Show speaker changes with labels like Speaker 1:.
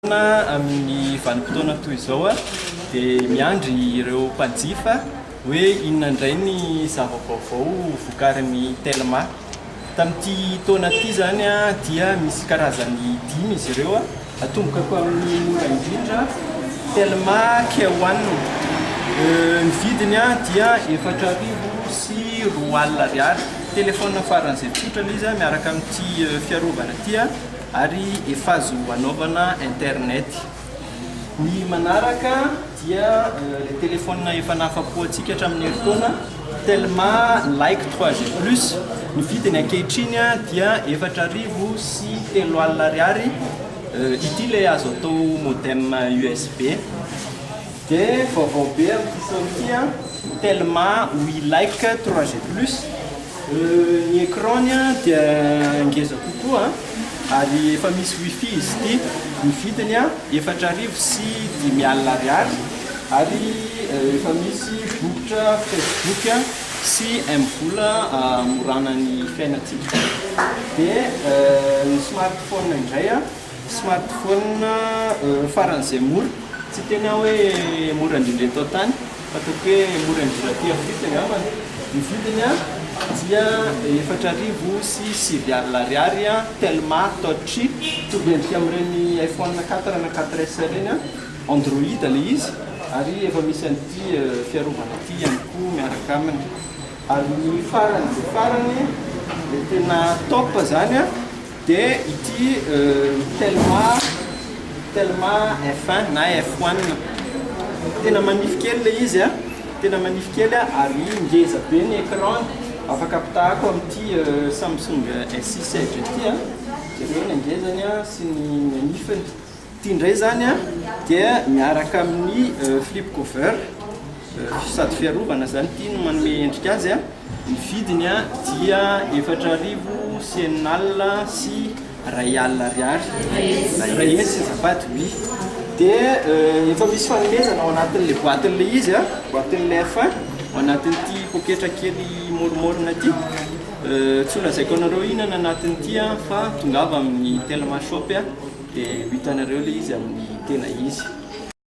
Speaker 1: Fotoana amin'ny vanim-potoana toy izao dia miandry ireo mpanjifa hoe inona indray ny zava-baovao vokarin'ny Telma. Tamin'ity taona ity izany dia misy karazany dimy izy ireo, atomboka ko amin'ny mora indrindra, Telma Care One, ny vidiny dia efatra arivo sy roa alina ariary, telefaonina faran'izay tsotra ilay izy miaraka amin'ity fiarovana ity. ary efa azo anaovana internet. Ny manaraka dia ilay téléphone efa nahafapo antsika hatramin'ny herintaona Telma Like 3G plus, ny vidiny ankehitriny dia efatra arivo sy telo alina ariary, ity ilay azo atao modem usb. Dia vaovao be amin'ity saon'ity an, Telma Wi Like 3G plus. Ny écran-ny dia ngeza kokoa ary efa misy wifi izy ity, ny vidiny efatra arivo sy dimy alina ariary ary efa misy bokotra facebook sy mvola hamorana ny fiainantsika dia ny smartphone indray Smartphone ho faran'izay mora, tsy tena aho hoe mora indrindra eto an-tany fa ataoko hoe mora indrindra aty Afrika angambany. Ny vidiny dia efatra arivo sy sivy alina ariary, Telma Touch, mitovy endrika amin'ireny iPhone quatre na quatre S ireny, Android ilay izy ary efa misy an'ity fiarovana ity ihany koa miaraka aminy. Ary ny faran'izay farany dia tena top izany. Dia ity Telma, Telma F1 na F1, tena manify kely ilay izy a, tena manify kely ary ngeza be ny écran, afaka apitahako amin'ity Samsung S6 Edge ity a, jereo ny hangezany sy ny hanifiny. Ity indray izany dia miaraka amin'ny flip cover, sady fiarovana izany ity no manome endrika azy. Ny vidiny dia efatra arivo sy enina alina sy iray alina ariary. Iray heny sy azafady, oui. Dia efa misy fanomezana ao anatin'ilay boatin'ilay izy, boatin'ilay F1, ao anatin'ity poketra kely môromôrona ity. Tsy ho lazaiko anareo inona ny anatin'ity an, fa tongava amin'ny Telma shop dia ho hitanareo ilay izy amin'ny tena izy.